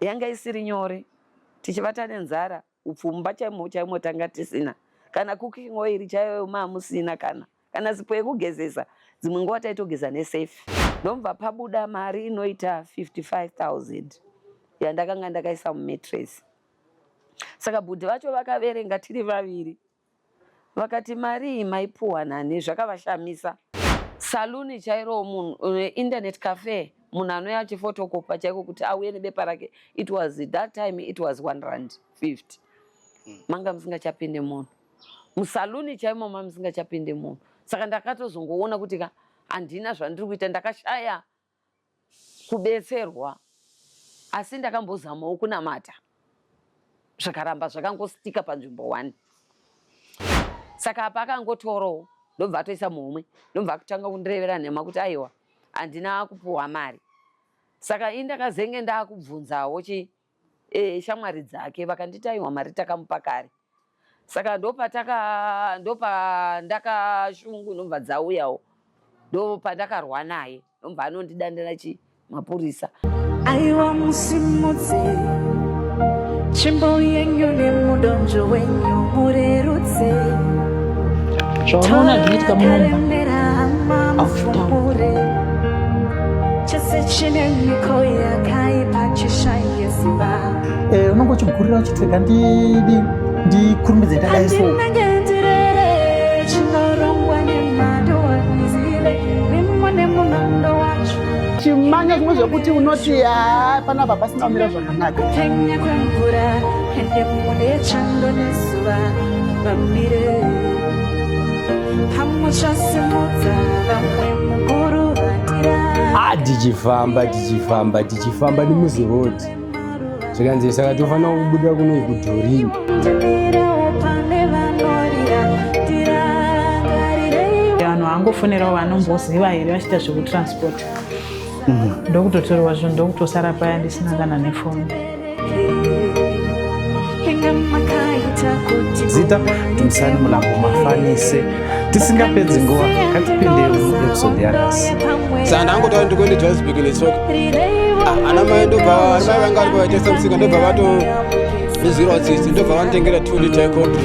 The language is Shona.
Yanga isiri nyore tichivata nenzara upfumba chaimo chaimo tanga tisina kana cooking oil chaiyo maamusina kana kana sipo yekugezesa dzimwe nguva taitogeza nesafe ndomva pabuda mari inoita 55000 yandakanga ndakaisa mumatress saka bhudhi vacho vakaverenga tiri vaviri Vakati marii maipuwa nani zvakavashamisa. Saluni chairo munhu internet cafe munhu anouya achifotokopa chaiko kuti auye nebepa rake it was that time it was 1 rand 50 hmm. manga musingachapinde munhu musaluni chaimo ma musingachapinde munhu saka ndakatozongoona kuti ka handina zvandiri kuita ndakashaya kubetserwa asi ndakambozamawo kunamata zvikaramba zvakangositika panzvimbo one saka apa akangotorawo ndobva atoisa muhomwe ndobva akutanga kundirevera nhema kuti aiwa handina kupuhwa mari saka ini ndakazenge ndakubvunzawo chii eh, shamwari dzake vakanditi aiwa mari takamupa kare saka ndopataka ndopandakashungu ndomva dzauyawo ndopandakarwa naye ndomva anondidandira chi mapurisa aiwa musimudzi tsvimbo yenyu nemudonzvo wenyu murerutse Zvaona zvinoitika munomu. Toemera hama After. mufumure Eh, unenge uchigurira uchitega ndidi ndikurumbidze ndadai so chimanya zvimwe zvekuti unoti haa panapa pasina kumira Ah, tichifamba tichifamba tichifamba nemuzirodi zvikanzi saka tofanira kubuda kunoi kudhorini vanhu vangofonerawo vanomboziva here vachiita zvekutransport mm-hmm. ndokutotorwa zvinhu ndokutosara paya ndisina kana nefoni zita tumisani mulambo mafanise tisingapedzi nguva katipinde episode yanasi saka ndangotaura ndikuende johannesburg nesoka ah, ana mai ndobva ana mai vanga vari kuvaitesa musika ndobva vato izirwa tsitsi ndobva vanditengera two liter contri